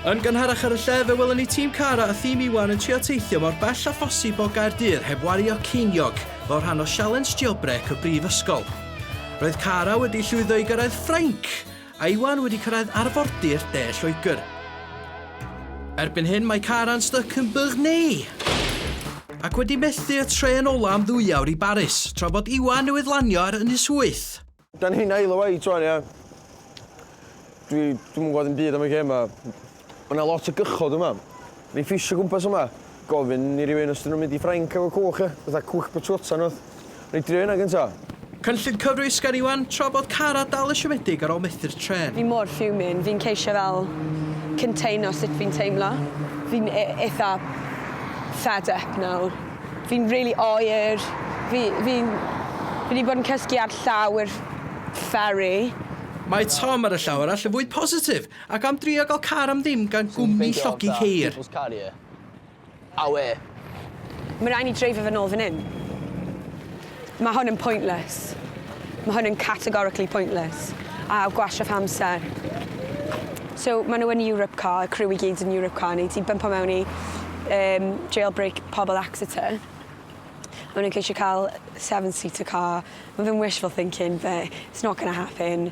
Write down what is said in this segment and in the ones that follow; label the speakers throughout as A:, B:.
A: Yn gynharach ar y lle, fe welwn ni tîm Cara a thîm Iwan yn trio teithio mor bell a phosib o Gaerdydd heb wario ceiniog fel rhan o sialens jailbreak y brifysgol. Roedd Cara wedi llwyddo i gyrraedd Ffrainc Iwan wedi cyrraedd arfordir De Lloegr. Erbyn hyn mae Karan styc yn Burney! Ac wedi methu y trên ola am ddwyawr i Baris, tra bod Iwan newydd lanio ar Ynys Wyth! Dan ni'n ail o
B: waith rwan ia. Dwi dwi'm yn gwbod dim byd am y gêm ma. Mae yna lot o gychod yma. Ni'n ffisio gwmpas yma. Gofyn i rywun os dyn nhw'n mynd i Ffrainc efo cwch, ia? Fatha cwch botwota neu rywbeth. Wna i drio hynna gynta. Cynllun cyfrwys
A: gan Iwan tra bod Cara dal yn siomedig ar ôl methu'r trên. Fi mor fuming, fi'n
C: ceisio fel containo sut fi'n teimlo. Fi'n e- eitha fed up nawr. Fi'n rili oer. Fi fi'n fi 'di bod yn cysgu ar llawr ferry. Mae
A: Tom ar y llaw arall yn fwy positif. Ac am drio gael car am ddim gan gwmni llogi ceir. People's car ie.
B: Awe.
C: Mae rhaid ni dreifio fe nôl fan hyn. Mae hwn yn pointless. Mae hwn yn categorically pointless. A gwastraff amser. So, maen nhw yn Europe Car, y criw i gyd yn Europe Car, neu ti'n bympo mewn i um, jailbreak pobl Exeter. Maen nhw'n ceisio cael seven-seater car. Mae fe'n wishful thinking, but it's not going to happen.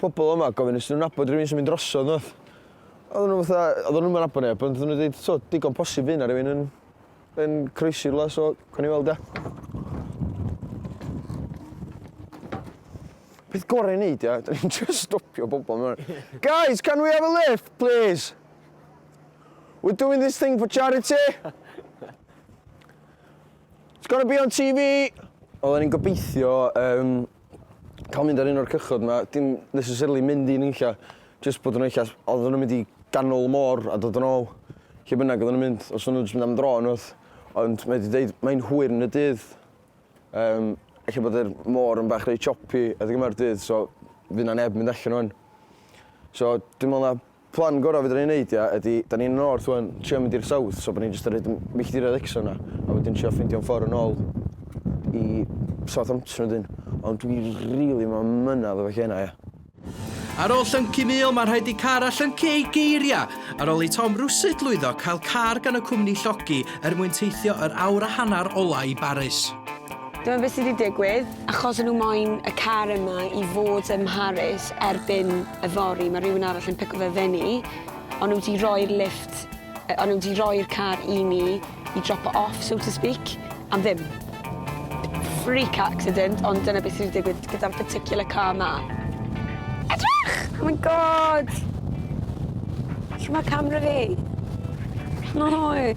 B: pobol yma gofyn os 'dyn nhw'n nabod rhywun sy'n mynd drosodd nhw. Oedden nhw fatha, oedden nhw'm yn nabod neb, ond oedden nhw'n dweud, so, digon posib fy' 'na rhywun yn, yn croesi rhywle, so, gawn ni weld e. Peth gorau i wneud, ia, dyn ni'n just stopio bobl yma. Guys, can we have a lift, please? We're doing this thing for charity. It's gonna be on TV. Oedden ni'n gobeithio um, ca'l mynd ar un o'r cychod 'ma dim necessarily mynd i nunlla jyst bod yn eitha s- odd o'n n'w mynd i ganol y môr a dod yn ôl lle bynnag oddan n'w mynd os o'n n'w jyst mynd am dro unwaith ond mae 'di deud mae'n hwyr yn y dydd yym elle bod yr môr yn bach reit choppy adeg yma'r dydd so fy' 'na neb mynd allan rŵan. So dwi me'wl na Plan gorau fedra ni neud ia ydi, da ni'n y north wan, trio mynd i'r south so bo ni'n jyst yn roid milltiroedd extra yna a wedyn trio ffeindio yn ffor yn ol i Southampton wedyn. Ond dwi rili ma mynadd efo lle yna ia. Ar
A: ôl llyncu mil ma rhaid i car a llyncu ei geiria! Ar ôl i Tom rwsut lwyddo cael car gan y cwmni llogi er mwyn teithio yr awr a hannar ola i Baris. Dyma beth sy
C: 'di digwydd. Achos o'n nhw moyn y car yma i fod ym Mharis erbyn yfory, mae rhywun arall yn pico fe fyny, ond nhw 'di rhoi'r lifft, yy o'n nhw 'di rhoi'r car i ni i drop o off, so to speak, am ddim. Freak accident, ond dyna beth sy 'di digwydd gyda'r particular car 'ma. Edrych! Oh my God! Lle mae camera fi? Lle mae hwy?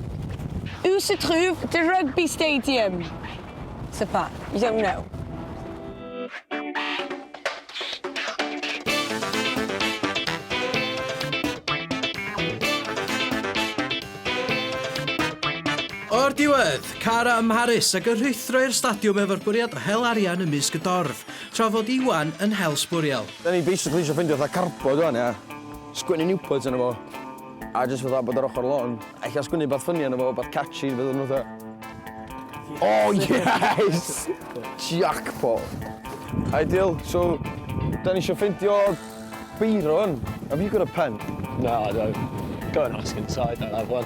C: Où se trouve the rugby stadium? Super. Iawn now.
A: O'r diwedd, Cara ym Mharis ac yn rhuthro i'r stadiwm efo'r bwriad o hel arian ym mysg y dorf, tra fod Iwan yn hel sbwriel. Da ni basically isio
B: ffeindio fatha carbod wan, ia? Sgwennu Newport arno fo. A jyst fatha bod ar ochr lôn. Ella sgwennu rwbath ffyni arno fo, rwbath catchy, fydd o'n fatha... O yes! Jackpot! Ideal, so 'dan ni isio ffeindio Byron. Have you got a pen? Na, I don't.
D: Go and ask inside, I'll have one.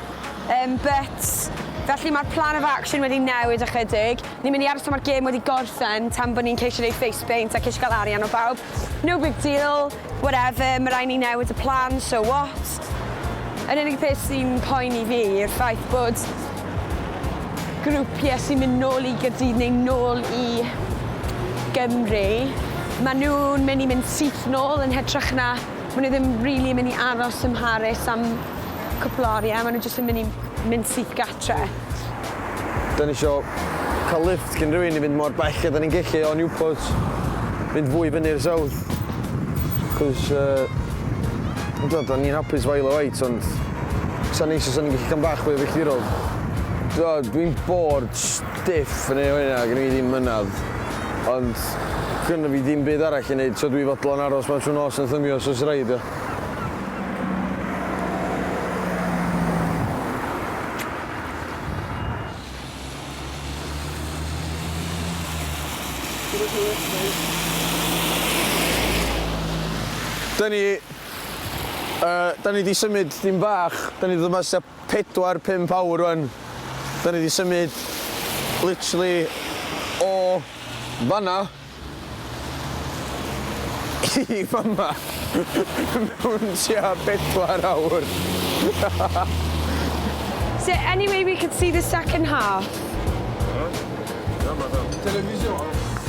C: Yym but felly mae'r plan of action wedi newid ychydig. Ni'n mynd i aros tan mae'r gêm wedi gorffen tan bod ni'n ceisio neud face paint a ceisio cael arian o bawb. No big deal, whatever, mae rhaid ni newid y plan, so what? Yr unig peth sy'n poeni fi yw'r ffaith bod grwpiau sy'n mynd nôl i Gaerdydd neu nôl i Gymru, mae nhw'n mynd i mynd syth nôl yn hytrach na maen nhw ddim rili yn mynd i aros ym Mharis am cwpl o arian, maen nhw jyst yn mynd i mynd syth gatre.
B: Da ni isio cael lift cyn rhywun i fynd mor bell a da ni'n gellu o Newport, fynd fwy fyny'r south. Cos, uh, da, da ni'n hapus fael o wait, ond sa'n neis os o'n i'n gallu cael bach fwy o filltirol. Dwi'n bored stiff yn ei hwyna, gen i ddim mynad. Ond gynnu fi ddim byd arall i wneud, so dwi fodlon aros mewn trwy nos yn thymio os oes rhaid. Da ni, uh, da ni di symud dim bach, da ni ddod mas tua 4-5 awr rwan. Da ni di symud literally o fanna i fama mewn tua bedwar awr. Is
C: there any way we could see the second half?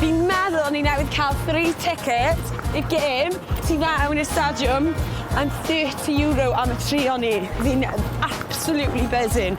C: Fi'n meddwl o'n i newydd cael free ticket i'r gêm tu fewn i'r stadiwm and thirty euro am y tri o ni. Fi'n absolutely buzzing.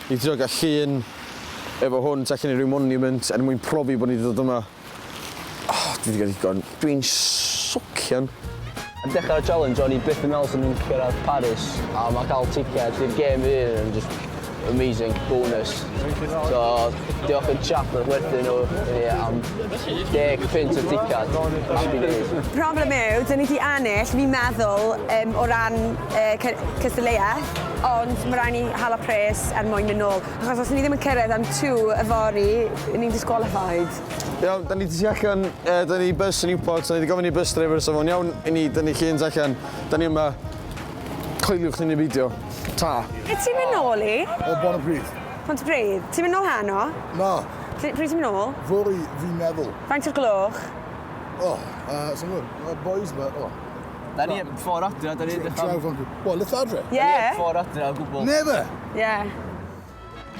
B: I drio cael llun efo hwn tu allan i ryw monument er mwyn profi bod ni 'di dod yma. O, dwi 'di cael digon. Dwi'n socian. Ar
E: dechrau'r challenge o'n i byth yn meddwl 'swn i'n cyrraedd Paris a mae cael ticed i'r gêm fy hun yn jyst amazing bonus. So, diolch i'r chap wnaeth werthu nhw i ni am deg punt y ticed. Happy days. Problem yw, 'dyn ni
C: 'di ennill, fi'n meddwl, yym, o ran yy cy- cystadleuaeth. ond mae rhaid ni hala pres er mwyn mynd nôl, achos os ni ddim yn cyrraedd am 2 yfory, ni'n disqualified. Iawn, da ni di
B: tu allan, uh, da ni bus yn Newport, da ni di gofyn i bus driver os o'n iawn i ni, da ni chi yn allan, da ni yma, coeliwch ni neu beidio. Ta. Lle ti'n mynd nôl
C: i? O Bon y Bryd.
F: Pont y Bryd. Ti'n
C: mynd nôl heno? Na.
F: Pryd ti'n mynd nôl?
C: Fori, fi'n meddwl.
F: Faint o'r gloch?
C: O, oh,
F: uh, sy'n gwybod, boys, but, oh.
E: Da ni heb ffordd adra, da
F: ni edrych am... Travel group. Wel, let's adre.
C: Ie. Da ni
E: heb ffordd adra o gwbl.
F: Never!
C: Ie.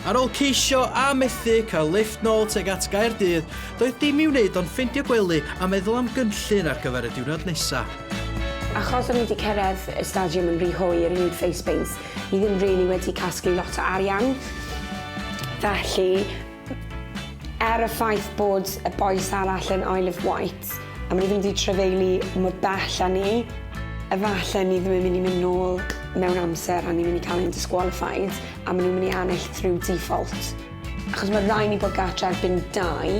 A: Ar ôl ceisio a methu cael lifft nôl tuag at Gaerdydd, doedd dim i'w wneud ond ffeindio gwely a meddwl am gynllun ar gyfer y diwrnod nesaf. Achos
C: o'n i 'di cyrraedd y stadiwm yn rhy hwyr i wneud face paints, ni ddim rili wedi casglu lot o arian, felly Er y ffaith bod y bois arall yn Isle of Wight, a maen nhw ddim wedi trefeili mor bell â ni, efallai ni ddim yn mynd i mynd nôl mewn amser a ni'n mynd i cael ein disqualified a maen nhw'n mynd i ennill through default. Achos mae rhaid ni bod gartre erbyn dau,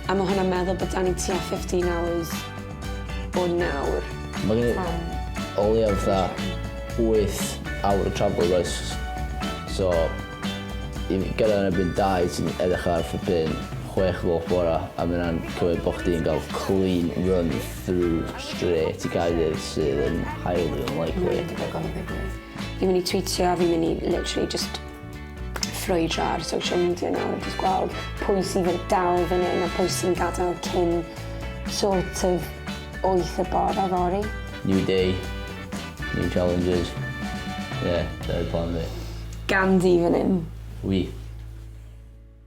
C: a mae hwnna'n meddwl bod 'da ni tua 15 hours o nawr. Mae gen i
E: o leiaf fatha wyth awr o travel does? So... Fi'n gyrraedd yn erbyn dau sy'n edrych ar flippin chwech lop bora a ma' wnna'n cymryd bo' chdi'n ga'l clean run through straight i Gaerdydd sydd yn highly unlikely. Mae'n debygol o ddigwydd.
C: Fi'n myn' i twîtio a fi'n myn' i literally jyst ffrwydro ar social media nawr jyst gweld pwy sydd yn dal fan 'yn a pwy sy'n gadel cyn sort of wyth y bore fory. New day,
E: New challenges. Ie, dyna'r plan
C: fi.
E: Ganddi fan 'yn. Wi.